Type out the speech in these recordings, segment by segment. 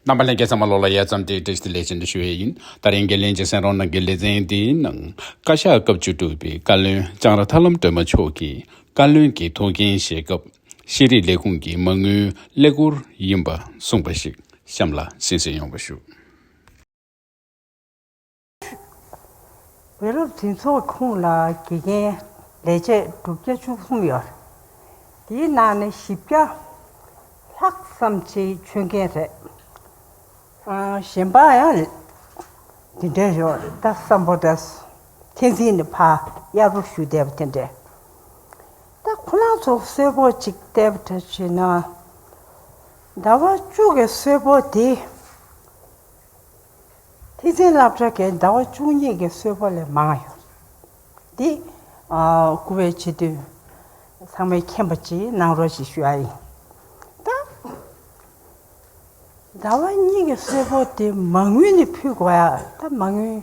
རྣམ་པ་ལས་འགལ་ཚང་མ་ལོགས་ལ་ཡལ་ཙམ་དེ་ཏེ་སི་ལས་ཅན་དུ་ཞུ་བས་ཡིན། ད་རེས་འགན་ལེན་གྱི་སེང་རོང་ནང་གི་ལེ་ཚན་དེའི་ནང། བཀའ་ཤག་སྐབས་བཅུ་དྲུག་པའི་བཀའ་བློན་ལྕང་ར་ཐར་ལམ་སྒྲོལ་མ་མཆོག་གིས་བཀའ་བློན་གྱི་ཐུགས་འགན་བཞེས་སྐབས། ཤེས་རིག་ལས་ཁུངས་ཀྱི་མ་དངུལ་ཀླད་ཀོར་ཡིན་པ་གསུངས་པ་ཞིག་གཤམ་ལ་གསན་གསོལ་ཡོང་བ་ཞུ། བོད་སློབ་འཛིན་ཚོགས་ཁོངས་ལ་དགེ་རྒན་ལས་བྱེད་དྲུག་བརྒྱ་བཅུ་གསུམ་ཡོད། དེའི་ནང་ནས་བཞི་བརྒྱ་ལྷག་ཙམ་ཆེད་མཆོད་མཁན་རེད། གཞན་པ་ཡང་དེ་འདྲའི་ཡོད། ད་བསམ་བོ་ད། མཁྱེན་བརྩེ་ནས་ཕ་གཡར་པོ་ཞུ་བསྡད་པ་དེ་འདྲས། ད་ཁོ་རང་ཚོ་གསོལ་ཕོགས་གཅིག་བསྡད་པ་འདྲ་བྱས་ན། ཟླ་བ་བཅུ་གི་གསོལ་ཕོགས་དེ། ཐེག་ཆེན་བསླབ་བྱ་དགའི་ཟླ་བ་བཅུ་གཉིས་ཀྱི་གསོལ་བ་ལས་མང་ཡང། འདི། བསྐུར་བའི་ཕྱི་དུས། ཚང་མས་མཁྱེན་པ་གཅིག་གནང་རོགས་ཞེས་ཞུ་ཡ་ཡིན། ད། ཟླ་བ་གཉིས་ཀྱི་གསོལ་བ་དེ་མ་དངུལ་ནས་ཕུལ་དགོས་ཡ། ད་མ་དངུལ།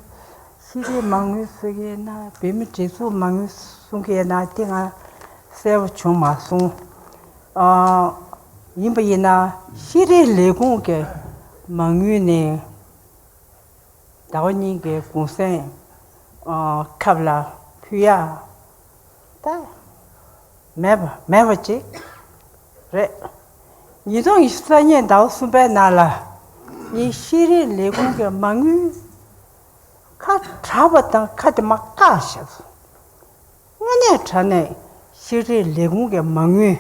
ཤེས་རིག་མ་དངུལ་གསོལ་གྱི་ཡིན་ན་བོད་མི་སྒྲིག་འཛུགས་མ་དངུལ་གསུང་གི་ཡིན་ན་དེ་ང་གསལ་བོ་བྱུང་མ་སོང། ཡིན་པ་ཡིན་ན་ཤེས་རིག་ལས་ཁུངས་ཀྱི། མ་དངུལ་ནི་ཟླ་བ་གཉིས་ཀྱི་གུང་སེང་ཁབ་ལ་ཕུལ་ཡ་ད་མེད་མེད་པ་ཅིག་རེད། ཉིས་སྟོང་ཡི་ས་གཉིས་ཟླ་བ་གསུམ་པའི་ནང་ལ་ངས་ཤེས་རིག་ལས་ཁུངས་ཀྱི་མ་དངུལ་ཁ་གྲགས་པ་དང་ཁ་དེ་མ་བཀག་ཞིག། དངོས་གནས་དྲ་གནས་ཤེས་རིག་ལས་ཁུངས་ཀྱི་མ་དངུལ་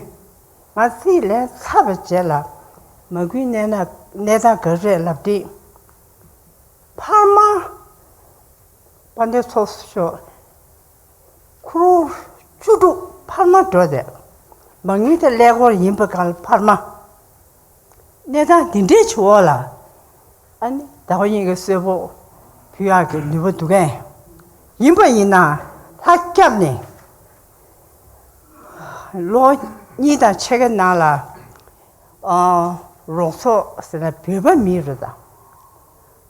མ་རྩིས་ལས་ཚབ་བྱས་ལ་མ་སྐུལ་གནས་ན་གནས་སྟངས་འགའ་རེ་ལབ་སྟེ། འཕར་མ་དཔའ་འདོད་ཚོགས་སུ་ཤོག། ཁུ་རུ་བཅུ་དྲུག་འཕར་མ་འགྲོ་ཟེར། མ་དངུལ་དེ་ཀླད་ཀོར་ཡིན་པའི་གང་ལ་འཕར་མ། གནས་སྟངས་འདི་འདྲའི་ཆུ་འོག་ལ། ཨ་ནི་ཟླ་བ་གཉིས་ཀྱི་གསོལ་ཕོགས་བུ་ཡག་གི་ནུས་པ་འདུག་གས། ཡིན་པ་ཡིན་ན་ལྷ་སྐྱབས་ནས། ལོ་གཉིས་དང་ཕྱེད་ཀའི་ནང་ལ། རོགས་ཚོགས་ཟེར་ན་བོད་པ་མིན་རེད་ད།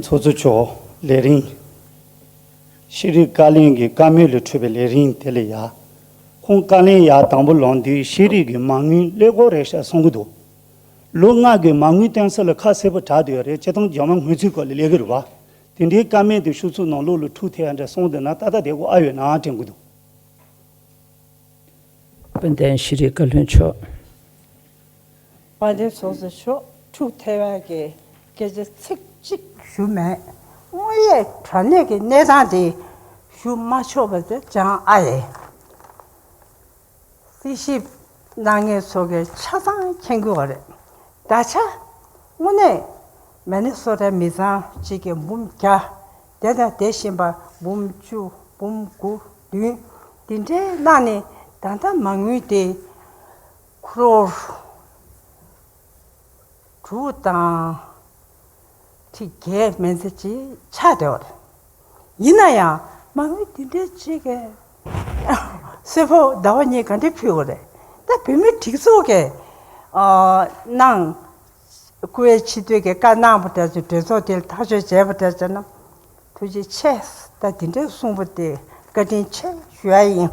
ཚོགས་གཙོ་མཆོག་ལས་རིང་ཤེས་རིག་བཀའ་བློན་གྱི་བཀའ་མོལ་ལས་འཕྲོས་པའི་ལས་རིང་དེ་ལས་ཡ། ཁོང་བཀའ་ལན་ཡ་དང་པོ་ལོངས་དུས་ཤེས་རིག་གི་མ་དངུལ་སླེ་གོ་རེ་ཤ་སོང་གི་འདུག་ལོ་ལྔ་གི་མ་དངུལ་གཏན་སོ་ལ་ཁ་གསལ་པོ་གྲགས་དུས་ཡ་རེ་སྤྱི་ཐང་རྒྱ་མ་དངུལ་ཚུལ་སྐོར་ལས་ལས་གི་རུ་བ་དེ་འདྲའི་བཀའ་མེད་དུ་ཤུགས་ཚུགས་ནང་ལོག་ལུག་ཕྲུག་ཐེ་ཡ་འདྲ་སོང་དུས་ན་ད་ལྟ་དེ་གོ་ཨ་ཡོད་ནའང་དྲན་གི་འདུག། དཔལ་ལྡན་ཤེས་རིག་བཀའ་བློན་མཆོག། པ་འདི་ཚོགས་རྫི་ཤོག་དྲུག་ཐལ་བ་གི་སྐད་ཆ་ཚིག་གཅིག་ཞུ་མེད་དངོས་ཡས་དྲ་གནས་ཀྱི་གནས་སྟངས་དེ་ཞུ་མ་ཆོག་པ་དེ་ཅང་ཨ་ཡེ། སྲིད་ཞིབ་སྣ་ལྔའི་ཚོགས་ཀྱི་ཆ་ཚང་མཁྱེན་དགོས་བ་རེད་ད་ཆ་དངོས་གནས་མེ་ནི་སོ་ཏའི་མི་ཚང་གཅིག་གི་འབུམ་བརྒྱ་དེ་དང་དེ་བཞིན་པ་འབུམ་བཅུ་འབུམ་དགུ་བདུན་དེ་འདྲའི་གནང་ནས་ད་ལྟ་མ་དངུལ་དེ། ཁྲོ་བོ་དང། ཁྲི་བརྒྱད་སྨན་རྩིས་ཀྱི་ཕྱག་བདེ་བ་རེད། ཡིན་ན་ཡང་མ་མོའི་དུས་འབྲེལ་གཅིག་གི། སྲས་པོ་ཟླ་བ་གཉིས་ག་འདྲས་ཕུལ་བ་རེད། ད་བུད་མེད་གྲིགས་ཚོགས་ཀྱི། གནང། སྐུ་བའི་ཕྱི་དོན་གྱི་བཀའ་གནང་བ་འདྲ་ཚུལ་འདྲེན་ཚོགས་དེ་ཐག་གཅོད་བྱས་པ་འདྲ་བྱས་ན། ཐུགས་རྗེ་ཆེ། ད་དེ་འདྲས་གསུངས་པ་དེ་བཀའ་དྲིན་ཆེ་ཞུ་ཡ་ཡིན།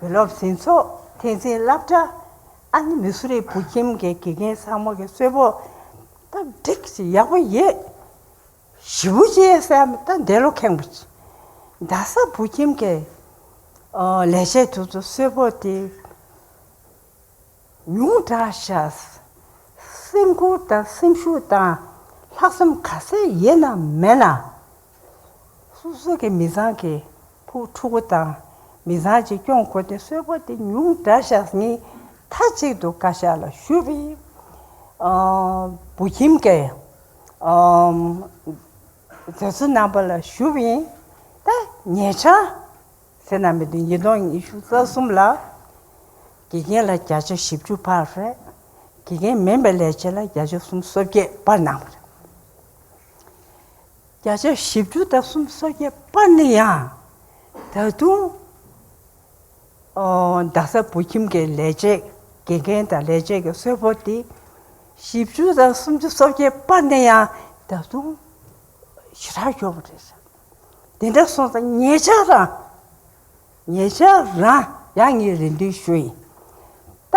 བུ་སློབ་ཟིན་ཚོགས་ཐེངས་ཚིན་བསླབ་གྲྭ་ཨ་ནི་མི་སུ་རི་བུ་ཁྱིམ་གྱི་དགེ་རྒན་ས་མོ་གི་སོས་པོ་ད་འགྲིག་ཅིག་ཡག་པོ་ཡོད། ཞི་བུ་ཅེ་སེ་མ་ད་འདས་ལོ་ཁེངས་པོ་ཅིག་རྡ་ས་བུ་ཁྱིམ་གྱི་ལས་བྱེད་དུ་ཚོ་སོས་པོ་དེ་ཉུང་དྲག་བྱ་སེམས་ཁུར་དང་སེམས་ཤུགས་དང་ལྷག་བསམ་ག་ཚད་ཡོད་ན་མེད་ན། སོ་སོ་གི་མི་ཚང་གི་བུ་ཕྲུ་གུ་དང་མི་ཚང་གཅིག་སྐྱོང་དགོས་ཏེ་གསོལ་བ་འདི་ཉུང་འདྲ་ཞག་གཉིས་མཐའ་གཅིག་ཏུ་བཀའ་ཤག་ལ་ཞུ་བས། བུ་ཁྱིམ་གྱི་མཛའ་བརྩེ་རྣམ་པ་ལ་ཞུ་བས། ད་ཉེ་ཆར་ཚེ་ན་མེད་དུས་ཉིས་སྟོང་ཉི་ཤུ་རྩ་གསུམ་ལ་དགེ་རྒན་ལ་བརྒྱ་ཆ་བཞི་བཅུ་བར་རེ་དགེ་རྒན་མིན་པའི་ལས་བྱེད་ལ་བརྒྱ་ཆ་གསུམ་སོ་བརྒྱད་བར་གནང་བ་རེད། བརྒྱ་ཆ་བཞི་བཅུ་དང་གསུམ་སོ་བརྒྱད་པ་ནི་ཡང་ད་དུང་རྡ་ས་བོད་ཁྱིམ་གྱི་ལས་བྱེད་དགེ་རྒན་དང་ལས་བྱེད་ཀྱི་གསོལ་ཕོགས་ཏེ། བཞི་བཅུ་དང་སུམ་ཅུ་སོ་བརྒྱད་པ་ནི་ཡང་ད་དུང་ཞེ་དྲག་ཤོར་བ་རེད། དེ་འདྲ་སོང་ཙང་ངེད་ཅག་རང་ངེད་ཅག་རང་ཡང་ངའི་རེ་འདུན་ཞུ་ཡིན། ད་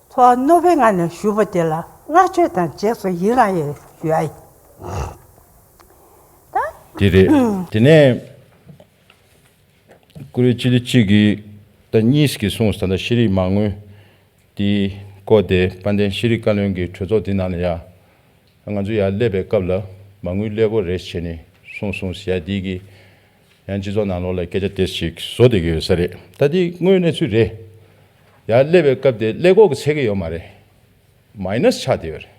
ཐོག་རྣོ་བའི་ངང་ནས་ཞུ་བ་དེ་ལ་བསྔགས་བརྗོད་དང་རྗེས་སུ་ཡི་རང་ཡོད་དེ་རེད། དེ་ནས་ཀུ་རེ་ཅི་ལི་གཅིག་གིས་ད་གཉིས་ཀྱིས་གསུངས་ས་ད་ཤེས་རིག་མ་དངུལ་དེ་བཀོལ་ཏེ་དཔལ་ལྡན་ཤེས་རིག་བཀའ་བློན་གྱི་གྲོས་ཚོགས་དེ་ནང་ནས་ཡང་ང་ཚོ་ཡར་སླེབས་པའི་སྐབས་ལ་མ་དངུལ་སླེ་གོ་རེ་བྱས་ནས་གསུངས་སོང་ཟེར་ཡ་དེའི་གི་ཡང་སྤྱི་ཚོགས་ནང་ལོག་ལ་སྐད་ཆ་དེ་ཞིག་བཟོ་བསྡད་ཀྱི་ཡོད་ས་རེད་ད་འདི་དངོས་གནས་ཚུལ་རེད། ཡང་སླེབས་པའི་སྐབས་དེ་ཀླད་ཀོག་གི་ཚད་ཀྱི་ཡོད་མ་རེད། Minus ཆགས་བསྡད་ཡོད་རེད།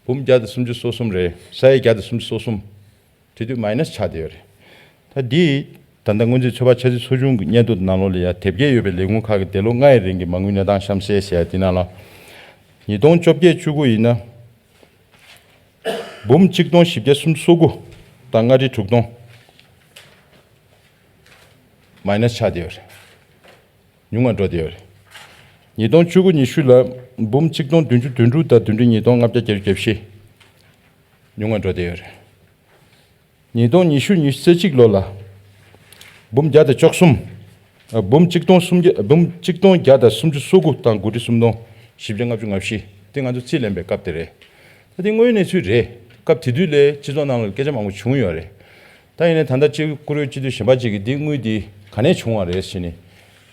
འབུམ་བརྒྱ་དང་སུམ་ཅུ་སོ་གསུམ་རེད་ས་ཡ་བརྒྱ་དང་སུམ་ཅུ་སོ་གསུམ་དེ་དུས Minus ཆགས་བསྡད་ཡོད་རེད། ད་འདི་ད་ལྟ་སྔོན་རྩིས་ཚོད་དཔག་འཆར་རྩིས་ཚོ་ཆུང་གི་སྙན་ཐོ་དེ་ནང་ལོག་ལ་ཡང་དེབ་སྐྱེལ་ཡོད་པའི་ལས་ཁུངས་ཁག་གི་འདས་ལོ་ལྔའི་རིང་གི་མ་དངུལ་གནས་སྟངས་གཤམ་གསལ་ཞེས་དེ་ནང་ལ། ཉིས་སྟོང་བཅོ་བརྒྱད་བཅུ་དགུ་ཡིན་ན། འབུམ་གཅིག་སྟོང་བཞི་བརྒྱ་སུམ་སོ་དགུ་དང་ལྔ་ཁྲི་དྲུག་སྟོང། མཱེནཱས་ཆག་བསྡད་པ་རེད། ཉུང་བར་འགྲོ་བསྡད་པ་རེད། ཉིས་སྟོང་བཅུ་དགུ་ཉི་ཤུ་ལ་འབུམ་གཅིག་སྟོང་བདུན་ཅུ་དོན་དྲུག་དང་བདུན་ཁྲི་ཉིས་སྟོང་ལྔ་བརྒྱ་བརྒྱད་ཅུ་གྱ་བཞི། ཉུང་བར་འགྲོ་བསྡད་པ་རེད། ཉིས་སྟོང་ཉི་ཤུ་ཉི་ཚེ་གཅིག་ལོ་ལ། འབུམ་བརྒྱ་དང་བཅོ་གསུམ། འབུམ་གཅིག་སྟོང་སུམ་བརྒྱ་འབུམ་གཅིག་སྟོང་བརྒྱ་དང་སུམ་ཅུ་སོ་དགུ་དང་དགུ་ཁྲི་སུམ་སྟོང་བཞི་བརྒྱ་ལྔ་བཅུ་ང་བཞི་དེ་ང་ཚོ་རྩིས་ལེན་པའི་སྐབས་དེ་རེད། ད་དེ་དངོས་གནས་ཚུལ་རེད། སྐབས་དེ་དུས་ལས་སྤྱི་ཚོགས་ནང་ལ་སྐད་ཆ་མང་པོ་བྱུང་ཡོད་རེད། ད་ཡིན་ནའི་ད་ལྟ་སྤྱི་བཀུར་འོས་སྤྱི་འཐུས་གཞན་པ་གཅིག་གིས་འདི་དངུལ་འདི་ག་ནས་བྱུང་བ་རེད་ཟེར་ནས་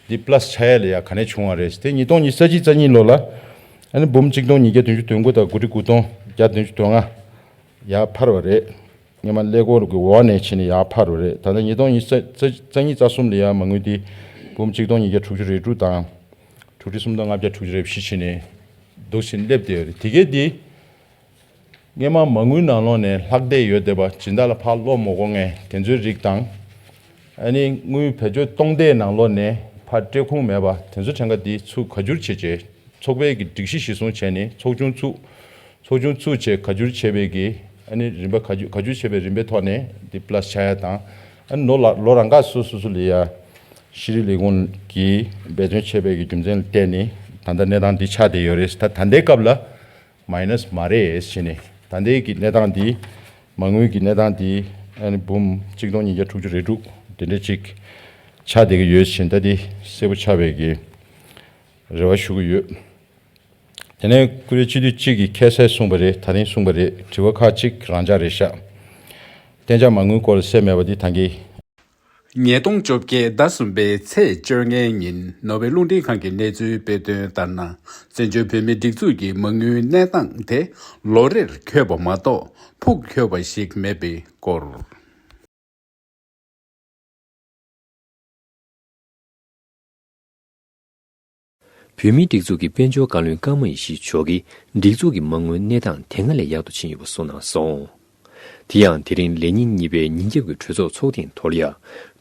འདི plus ཆ་ཡ་ལས་ཡ་ག་ནས་བྱུང་བ་རེད་དེ་ཉིས་སྟོང་ཉི་ཚེ་གཅིག་རྩ་གཉིས་ལོ་ལ། འབུམ་གཅིག་སྟོང་ཉིས་བརྒྱ་དོན་བཅུ་དོན་དགུ་དང་དགུ་ཁྲི་དགུ་སྟོང་བརྒྱ་དོན་བཅུ་དོན་ལྔ། ཡར་འཕར་བ་རེད། སྔོན་མ་ཀླད་ཀོར་གྱི་འོག་ནས་ཕྱིན་ནས་ཡར་འཕར་བ་རེད། ད་ལྟ་ཉིས་སྟོང་ཉིས་རྩ་གཉིས་རྩ་གསུམ་ལ་ཡར་མ་ངུས་ཏེ་འབུམ་གཅིག་སྟོང་ཉིས་བརྒྱ་དྲུག་ཅུ་རེ་དྲུག་དང་དྲུག་ཁྲི་སུམ་སྟོང་ལྔ་བརྒྱ་དྲུག་ཅུ་རེ་བཞི་ཕྱིན་ནས་འདུག་ཟིན་སླེབས་བསྡད་རེད། དེ་གས་དེ་སྔོན་མ་མ་ངུས་ནང་ལོགས་ནས་ལྷག་བསྡད་ཡོད་བསྡད་པ་སྦྱིན་བདག་ལ་ཕར་སློག་མོ་སྒོ་ངས་དེ་ཚོའི་རིགས་དང། ཨ་ནི་དངུལ་བེད་སྤྱོད་གཏོང་བདེའི་ནང་ལོགས་ནས་ཕར་སྤྲད་ཁུངས་མེད་པ་དེ་ཚོ་ཕྲན་ག་འདིས་ཚུགས་ཁ་སྒྱུར་བྱེད་ཆེད་ཚོགས་པའི་གི་སྒྲིག་གཞི་གཞི་བཟུང་བྱས་ནི་ཚོགས་ཆུང་ཚུགས། ཚོགས་ཆུང་ཚུགས་ཆེད་ཁ་སྒྱུར་བྱེད་པའི་གི་ཨ་ནི་རིམ་པ་ཁ་སྒྱུར་ཁ་སྒྱུར་བྱེད་པའི་རིམ་པའི་ཐོག་ནས་འདི plus ཆ་ཡ་དང་ཨ་ནི་ནོར་ལ་ལོ་རང་ཁ་སོ་སོ་སུ་ལི་ཡ་ཤི་རི་ལི་གུང་གིས་འབད་བརྩོན་བྱས་པའི་གི་རྒྱུ་མཚན་ལ་བལྟས་ནི་ད་ལྟ་གནས་སྟངས་འདི་ཆགས་བསྡད་ཡོད་རེད་ད་ད་ལྟའི་སྐབས་ལ། Minus མ་རེད་བྱས་ནས་ད་ལྟའི་གི་གནས་སྟངས་འདི་མ་དངུལ་གི་གནས་སྟངས་འདི་ཨཱ་འབུམ་གཅིག་སྟོང་ཉིས་བརྒྱ་དྲུག་ཅུ་རེ་དྲུག་དེ་འདྲ་ཅིག་ཆགས་བསྡད་ཀྱི་ཡོད་བྱས་ད་ལྟའི་གསལ་པོ་ཆགས་པའི་གི་རེ་བ་ཞུ་གི་ཡོད། དེ་ནས་ཀུ་རེ་སྤྱི་འཐུས་གཅིག་གི་ཁྱད་གསད་གསུངས་པ་རེད་ད་རིང་གསུངས་པ་རེད་དྲི་བ་ཁག་ཅིག་རང་འཇགས་རེད་ཤག། གཏན་འཇགས་མ་དངུལ་སྐོར་ལ་གསལ་མེད་པ་འདི་ད་གི། ཉིས་སྟོང་བཅོ་བརྒྱད་ཟླ་གསུམ་པའི་ཚེས་བཅོ་ལྔའི་ཉིན་ནོར་ཝེ་རླུང་འཕྲིན་ཁང་གིས་གནས་ཚུལ་སྤེལ་དོན་ལྟར་ན། བཙན་བྱོལ་བོད་མིའི་སྒྲིག་འཛུགས་ཀྱི་མ་དངུལ་གནས་སྟངས་དེ་ལོ་རེར་འཁྱོལ་བ་མ་གཏོགས་ཕུགས་འཁྱོལ་བ་ཞིག་མེད་པའི་སྐོར། བོད་མིའི་སྒྲིག་འཛུགས་ཀྱི་དཔལ་འབྱོར་བཀའ་བློན་བཀའ་མ་ཡེ་ཤེས་མཆོག་གིས་སྒྲིག་འཛུགས་ཀྱི་མ་དངུལ་གནས་སྟངས་དེ་སྔར་ལས་ཡག་ཏུ་ཕྱིན་ཡོད་པ་གསུངས་གནང་སོང། དེ་ཡང་དེ་རིང་ལས་ཉིན་གཉིས་པའི་ཉིན་རྒྱབ་ཀྱི་གྲོས་ཚོགས་ཚོགས་ཐེངས་དོར་ཡ།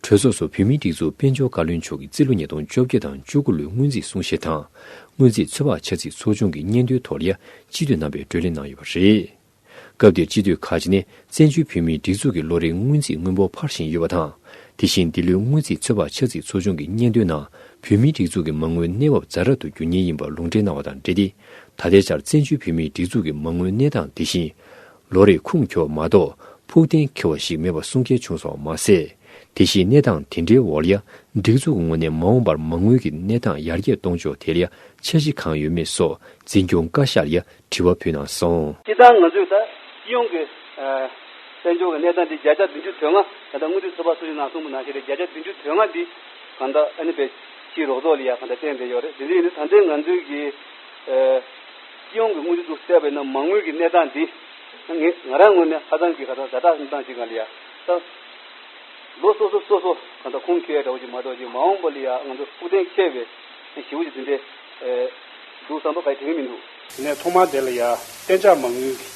གྲོས་ཚོགས་སུ་བོད་མིའི་སྒྲིག་འཛུགས་དཔལ་འབྱོར་བཀའ་བློན་མཆོག་གིས་རྩིས་ལོ་ཉིས་སྟོང་བཅོ་བརྒྱད་དང་བཅུ་དགུ་ལོའི་སྔོན་རྩིས་གསུང་བཤད་དང་སྔོན་རྩིས་ཚོད་དཔག་འཆར་རྩིས་ཚོགས་ཆུང་གི་སྙན་ཐོའི་དོར་ཡ་སྤྱི་འཐུས་རྣམ་པས་བགྲོ་གླེང་གནང་ཡོད་པ་རེད། སྐབས་འདིར་སྤྱི་འཐུས་ཁག་ཅིག་ནས་བཙན་བྱོལ་བོད་མིའི་སྒྲིག་འཛུགས་ཀྱི་ལོ་རེའི་སྔོན་རྩིས་དངུལ་འབོར་འཕར་བཞིན་ཡོད་པ་དང། དེ་བཞིན་འདི་ལོའི་སྔོན་རྩིས་ཚོད་དཔག་ཆག་འཛིག་ཚོ་ཆུང་གི་སྙན་ཐོའི་ནང་བོད་མིའི་སྒྲིག་འཛུགས་ཀྱི་མ་དངུལ་གནས་བབ་རྫ་རབ་ཏུ་འགྱུར་ཉེན་ཡིན་པར་ལུང་འདྲེན་གནང་བ་དང་འབྲེལ་ཏེ་ད་ལྟའི་ཆར་བཙན་བྱོལ་བོད་མིའི་སྒྲིག་འཛུགས་ཀྱི་མ་དངུལ་གནས་སྟངས་དེ་བཞིན། ལོ་རེར་ཁུངས་འཁྱོལ་བ་མ་གཏོགས་ཕུགས་གཏན་འཁེལ་བ་ཞིག་མེད་པ་གསུང་སྐད་བྱུང་སོང་བ་མ་ཟད། དེ་བཞིན་གནས་སྟངས་དེ་འདྲའི་འོག་ལ་སྒྲིག་འཛུགས་ཀྱི་ངོས་ནས་མ་འོངས་པར་མ་དངུལ་གྱི་གནས་སྟངས་ཡར་རྒྱས་གཏོང་ཕྱོགས་ཐད་ལ་འཆར་གཞི་གང་ཡོད་མེད་སོགས་འཛིན་སྐྱོང་བཀའ་ཤག་ལ་དྲི་བ་ཕུལ་ན་བཟང། སྤྱི་བཏང་ང་ཚོས་ད་སྤྱི་ཡོངས་ཀྱི་དཔལ་འབྱོར་གྱི་གནས་སྟངས་འདི་བརྒྱ་ཆ་བདུན་ཅུ་དོན་ལྔ་གང་འདྲ་དངུལ་རྩའི་ཚོ་པ་སུ་ཡིན་ནང་གསུངས་པ་ནང་བཞིན་རེད་བརྒྱ་ཆ་བདུན་ཅུ་དོན་ལྔ་འདི་གང་འདྲ་ཨ་ནི་པའི་སྤྱིའི་རོགས་ཚོགས་ལ་ཡང་གང་འདྲ་བསྟན་བསྡད་ཡོད་རེད་དེ་འདྲ་ཡིན་ན་ད་ལྟའི་ང་ཚོའི་གི་སྤྱི་ཡོངས་ཀྱི་དངུལ་རྩའི་ཚོ་བསལ་བའི་ནང་མ་དངུལ་གྱི་གནས་སྟངས་འདི་ངས་ང་རང་ངོས་ནས་ཧ་ཙང་གི་ཧ་ཙང་ཟ་གྲགས་སྟངས་ཅིག་གང་ལ་ཡང་ད་ལོ་སོ་སོ་སོ་སོ་གང་འདྲ་ཁུངས་འཁྱེར་ཡག་འདྲ་བོ་ཅིག་མ་གཏོགས་ཀྱི་མ་འོངས་པ་ལ་ཡང་ང་ཚོ་ཕུགས་གཏན་འཁེལ་བའི་ཞི་བོ་ཅིག་འདི་འདྲའི། འདུག་བཟང་པོ་ག་ཡི་དེ་བས་མི་འདུག། དེ་ནས་ཐོག་མར་དེ་ལ་ཡང་གཏན་འཇགས་མ་དངུལ་གྱི་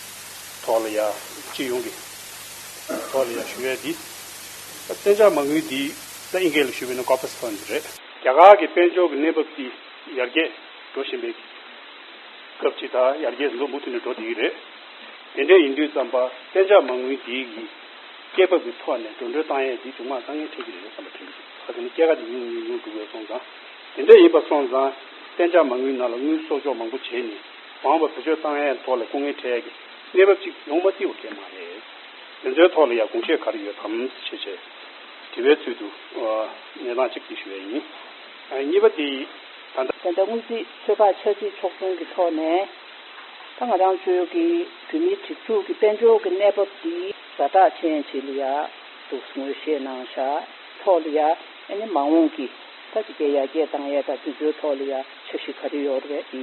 ཐོག་ལ་ཡང་སྤྱི་ཡོངས་ཀྱི་ཐོག་ལ་ཡང་ཞུ་བས་འདི་གཏན་འཇགས་མ་དངུལ་འདི་ད་ཨིན་སྐད་ལ་ཞུ་བས་ན་ཀོ་ཕ་སི་ཕན་འདི་རེད། རྒྱ་གར་གྱི་དཔལ་འབྱོར་གྱི་གནས་བབ་ཀྱི་ཡར་རྒྱས་འགྲོ་བཞིན་པའི་སྐབས་ཀྱི་ད་ཡར་རྒྱས་ཟིན་ཐོ་མུ་མཐུད་ནས་འགྲོ་བསྡད་ཀྱི་རེད། དེ་འདྲས་ཡིན་དུས་བརྩམས་པ་གཏན་འཇགས་མ་དངུལ་འདི་ཡི་སྐད་བབ་ཀྱི་ཐོག་ནས་འགྲོ་འགྲོའི་བཏང་ཡས་འདི་ཅུང་མ་དཀའ་ངལ་འཕྲད་ཀྱི་རེད་བསམ་པ་དྲན་གྱི་འདུག་ག་དེ་ནི་སྐད་ཀ་དེ་ཉུང་ཉུང་ཉུང་ཉུང་འདུག་བས་སོང་ཙང། དེ་འདྲ་ཡིན་པ་སོང་ཙང། གཏན་འཇགས་མ་དངུལ་ནང་ལ་དངུལ་གསོག་འཇོག་མང་པོ་བྱས་ནས་བང་བ་བེད་སྤྱོད་བཏང་ཡས་ཐོག་ལ་སྐུ་ངལ་འཕྲད་ཡས་ཀྱི་གནས་བབ་ཅིག་ཡོང་མ་བསྡིའོ་སྐད་མ་རེད། དེ་ཚོའི་ཐོག་ལ་ཡ་དགོངས་བཞེས་ག་རེ་ཡོད་དམ་ཞེས་བྱས་དྲི་བའི་ཚུལ་དུ། གནས་སྟངས་གཅིག་དེ་ཞུ་ཡས་ཡིན། གཉིས་པ་དེ། ད་ལྟ། ད་ལྟ་དངུལ་རྩིས་ཚོད་དཔག་ཆ་རྩིས་ཕྱོགས་སྐྱོང་གི་ཐོག་ནས། ད་ང་རང་ཚོའི་གི་བོད་མིའི་སྒྲིག་འཛུགས་ཀྱི་དཔལ་འབྱོར་གྱི་གནས་བབ་འདི་ཟ་བྲག་ཅན་བྱེད་ལ་ཡ་འདུག་ངོས་བཞེས་གནང་བཞག་ཐོག་ལ་ཡ་ཨ་ནི་མ་འོངས་ཀྱི་ད་ཅི་སྐད་ཡ་རྒྱས་དང་ཡས་དང་དེ་ཚོའི་ཐོག་ལ་ཡང་ཆ་བཞི་ག་རེ་ཡོད་རེད་ཨི་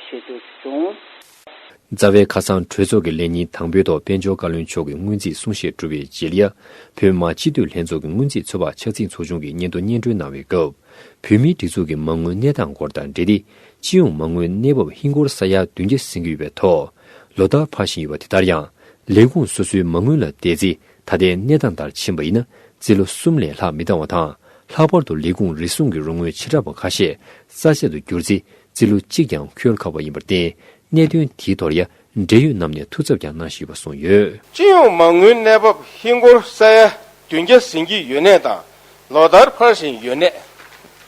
ཞེས་རྒྱུགས་བྱུང། རྩ་བའི་ཁ་སང་གྲོས་ཚོགས་ཀྱི་ལས་ཉིན་དང་པོའི་ཐོག་དཔལ་འབྱོར་བཀའ་བློན་མཆོག་གིས་སྔོན་རྩིས་གསུང་བཤད་གྲུབ་པའི་རྗེས་ལ། བོད་དམག་སྤྱི་འཐུས་ལྷན་ཚོགས་ཀྱི་སྔོན་རྩིས་ཚོད་དཔག་ཆ་ཚིག་ཚོགས་ཆུང་གི་སྙན་ཐོ་སྙན་སྒྲོན་གནང་བའི་སྐབས། བོད་མིའི་སྒྲིག་འཛུགས་ཀྱི་མ་དངུལ་གནས་སྟངས་སྐོར་དང་འབྲེལ་ཏེ། སྤྱི་ཡོངས་མ་དངུལ་གནས་བབ་ཧིན་སྒོར་ས་ཡ་བདུན་བརྒྱ་ཟིན་གྱི་ཡོད་པའི་ཐོག། ལོ་ལྟར་འཕར་བཞིན་ཡོད་པ་དེ་ལྟར་ཡང། ལས་ཁུངས་སོ་སོའི་མ་དངུལ་ལ་བལྟས་ཚེ་ད་ལྟའི་གནས་སྟངས་ལྟར་ཕྱིན་པ་ཡིན་ན་རྩིས་ལོ་གསུམ་ལས་ལྷག་མི་བཏང་བ་དང་ལྷག་པར་དུ་ལས་ཁུངས་རེ་ཟུང་གི་རོགས་དངུལ་བྱེ་བྲག་པ་ཁ་ཤས་རྩ་ཆད་དུ་གྱུར་ཚེ་རྩིས་ལོ་གཅིག་ཀྱང་འཁྱོལ་ཁག་པ་ཡིན་པར་བརྟེན་གནད་དོན་དེའི་ཐོག་རྒྱ་འབྲེལ་ཡོད་རྣམས་ནས་ཐུགས་འཚབ་ཀྱང་གནང་ཞུས་པ་གསུངས་ཡོད། སྤྱི་ཡོངས་མ་དངུལ་གནས་བབ་ཧིན་སྒོར་ས་ཡ་བདུན་བརྒྱ་ཟིན་གྱི་ཡོད་གནས་དང་ལོ་ལྟར་འཕར་བཞིན་ཡོད་གནས།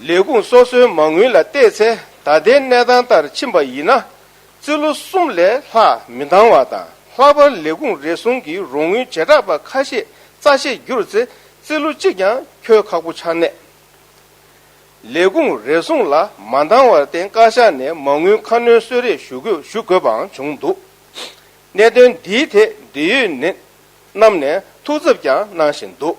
ལས་ཁུངས་སོ་སོའི་མ་དངུལ་ལ་བལྟས་ཚེ་ད་ལྟའི་གནས་སྟངས་ལྟར་ཕྱིན་པ་ཡིན་ན་རྩིས་ལོ་གསུམ་ལས་ལྷག་མི་འདང་བ་དང་ལྷག་པར་ལས་ཁུངས་རེ་ཟུང་གི་རོགས་དངུལ་བྱེ་བྲག་པ་ཁ་ཤས་རྩ་ཆེར་བསྒྱུར་ཚེ་རྩིས་ལོ་གཅིག་ཀྱང་འཁྱོལ་ཁག་པོ་ཆགས་ནས། ལས་ཁུངས་རེ་ཟུང་ལ་མ་འདང་བར་བརྟེན་བཀའ་ཤག་ནས་མ་དངུལ་ཁ་སྣོན་གསོལ་རས་ཞུ་དགོས་ཞུ་དགོས་པའང་བྱུང་འདུག་གནད་དོན་འདིའི་ཐད་འབྲེལ་ཡོད་ནད་རྣམས་ནས་ཐུགས་འཚབ་ཀྱང་གནང་བཞིན་འདུག།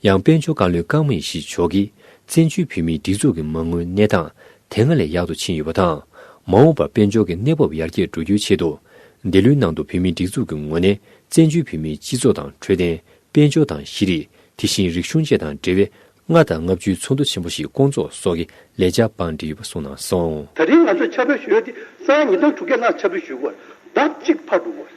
ཡང་དཔལ་འབྱོར་བཀའ་བློན་ཀང་མེ་ཤི་མཆོག་གིས་བཙན་བྱོལ་བོད་མིའི་སྒྲིག་འཛུགས་ཀྱི་མ་དངུལ་གནས་སྟངས་དེ་སྔར་ལས་ཡག་ཏུ་ཕྱིན་ཡོད་པ་དང། མ་འོངས་པར་དཔལ་འབྱོར་གྱི་གནས་བབ་ཡར་རྒྱས་འགྲོ་རྒྱུའི་ཆེད་དུ། འདི་ལོའི་ནང་དུ་བོད་མིའི་སྒྲིག་འཛུགས་ཀྱི་ངོས་ནས་བཙན་བྱོལ་བོད་མིའི་སྤྱི་ཚོགས་དང་འཕྲོད་བསྟེན། དཔལ་འབྱོར་དང་ཤེས་རིག་དེ་བཞིན་རིག་གཞུང་བཅས་དང་འབྲེལ་བའི་ལྔ་དང་ལྔ་བཅུའི་ཚོགས་འདུ་ཆེན་པོ་ཞིག་བསྐོང་ཚོགས་སོགས་ཀྱི་ལས་བྱ་བང་སྒྲིག་ཡོད་པ་གསུངས་གནང་སོང། ད་རིང་ང་ཚོས་འཆར་འབུལ་ཞུས་ཡོད་དེ་གསང་ཡང་ཉིས་སྟོང་དྲུག་བརྒྱ་ལྷག་འཆར་འབུལ་ཞུས་དགོས། ཟླ་གཅིག་ཕར་འགྲོ་དགོས།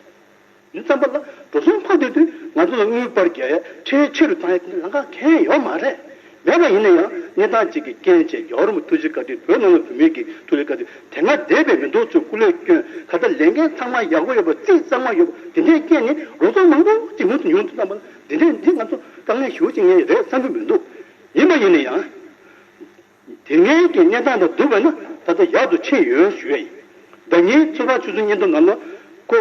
འདི་བརྩམས་པ་ལ་འགྲོ་སོང་ཕངས་འདོད་དུས་ང་ཚོ་ལ་དངུལ་སྤར་རྒྱག་ཡ་ཁྲེལ་ཆེ་རུ་བཏང་ཡ་དེ་འདྲ་ལང་ཁ་མཁན་ཡོག་མ་རེད། མེད་པ་ཡིན་ན་ཡང་གནས་སྟངས་གཅིག་གི་རྐྱེན་བཅས་རྒྱ་གར་མོ་ཐུ་ཇི་ཀ་དེ་བོད་ནང་ལ་བུད་མེད་ཀྱི་ཐུགས་ལས་ཀ་དེ་དེ་སྔ་འདས་པའི་མི་མདོག་ཚོའི་སྐུ་ལས་སྐྱོན་ག་ལྟ་ལས་འགན་ཚང་མ་ཡག་པོ་ཡོད་པ་རྩིས་གཙང་མ་ཡོད་པ་དེ་འདྲའི་རྐྱེན་ནི་རོ་ཙོང་མང་པོ་ཅིག་མུ་མཐུད་ཉུང་དུ་བཏང་པ་ལ་འདི་འདྲའི་འདི་ང་ཚོ་དཀའ་ངལ་ཞུ་བ་ཅིག་ངའི་རེད་བསམ་གྱི་མི་འདུག་ཡིན་པ་ཡིན་ན་ཡང། དེ་སྔའི་དགེ་བསྙེན་དག་དང་བསྡུར་བས་ན་ད་ལྟ་ཡག་ཏུ་ཕྱིན་ཡོད་ཞུ་བས་ཡིན། བདག་ཉིད་ཚོད་དཔག་ཆུ་ཚོད་གཉིས་འདུག་ནམ་ལོ། ཀོ།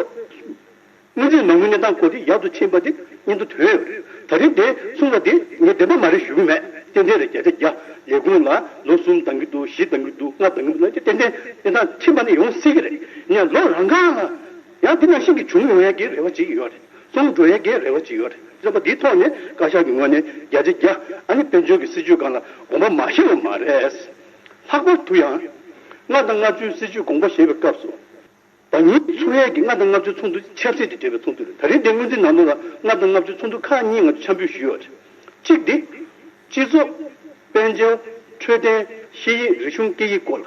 སྔོན་ཆད་མ་དངུལ་གནས་སྟངས་གོ་དེ་ཡག་ཏུ་ཕྱིན་པ་དེ་གཉིས་འདུག་དོན་ཡོད་རེད། ད་རིང་དེ་གསུངས་པ་དེ་ངས་བདེན་པ་མ་རེད་ཞུ་གི་མེད། ཏན་ཏན་རེད་བརྒྱ་ཆ་བརྒྱ། ལས་ཁུངས་ལ་ལོ་གསུམ་ལྡང་གི་འདུག་བཞི་ལྡང་གི་འདུག་ལྔ་ལྡང་གི་འདུག་ལབ་ཀྱི་ཏན་ཏན་གནས་སྟངས་ཕྱིན་པ་ནི་ཡོང་སྲིད་ཀྱི་རེད། ཡང་ལོ་རང་འགའ་ལ་ཡང་དེ་རྣམས་ཤིན་གྱི་བྱུང་ཡོང་ཡག་གི་རེ་བ་བྱེད་ཀྱི་ཡོད་རེད། རྩོམ་སྒྲུང་ཡི་གེའི་རེ་བ་ཅི་ཡོད་རེད། རྩོམ་པ་འདིའི་ཐོག་ནས་བཀའ་ཤག་གི་ངོས་ནས་རྒྱ་ཆེ་རྒྱ་ཨ་ནི་དཔལ་འབྱོར་གྱི་སྲིད་ཇུས་སྒང་ལ་དགོངས་པ་མ་བཞེས་པ་མ་རེད། ལྷག་པར་དུ་ཡང། ལྔ་དང་ལྔ་བཅུའི་སྲིད་ཇུས་དགོངས་པ་བཞེས་པའི་སྐབས་སུ། ཟླ་གཉིས་འཚོགས་ཡས་ཀྱི་ལྔ་དང་ལྔ་བཅུའི་ཚོགས་འདུ་ཆབ་སྲིད་ཀྱིས་སྦྲེལ་བའི་ཚོགས་འདུ་རེད། ད་རིང་འདིའི་སྔོན་རྩིས་ནང་དོན་ལ་ལྔ་དང་ལྔ་བཅུའི་ཚོགས་འདུ་ཁག་གཉིས་ང་ཚོས་འཆར་འབུལ་ཞུས་ཡོད་རེད། གཅིག་སྟེ། སྤྱི་ཚོགས། དཔལ་འབྱོར། འཕྲོད་བསྟེན། ཤེས་ཡིག་རིག་གཞུང་སྐད་ཡིག་སྐོར་ལ།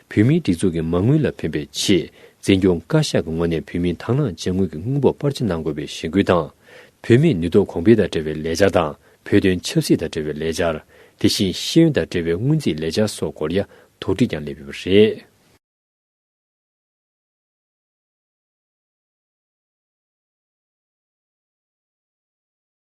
བོད་མིའི་སྒྲིག་འཛུགས་ཀྱི་མ་དངུལ་ལ་ཕན་པའི་ཆེད་འཛིན་སྐྱོང་བཀའ་ཤག་གི་ངོས་ནས་བོད་མིའི་དྭངས་བླངས་བྱ་དངུལ་གྱི་དངུལ་འབོར་སྤར་ཆ་གནང་དགོས་པའི་གཞེན་སྐུལ་དང། བོད་མིའི་ནུས་སྟོབས་གོང་འཕེལ་དང་འབྲེལ་བའི་ལས་འཆར་དང་བོད་དོན་ཆབ་སྲིད་དང་འབྲེལ་བའི་ལས་འཆར། དེ་བཞིན་ཤེས་ཡོན་དང་འབྲེལ་བའི་སྔོན་རྩིས་ལས་འཆར་སོགས་སྐོར་ཡ་དོགས་དྲིས་ཀྱང་སླེབས་ཡོད་པ་རེད།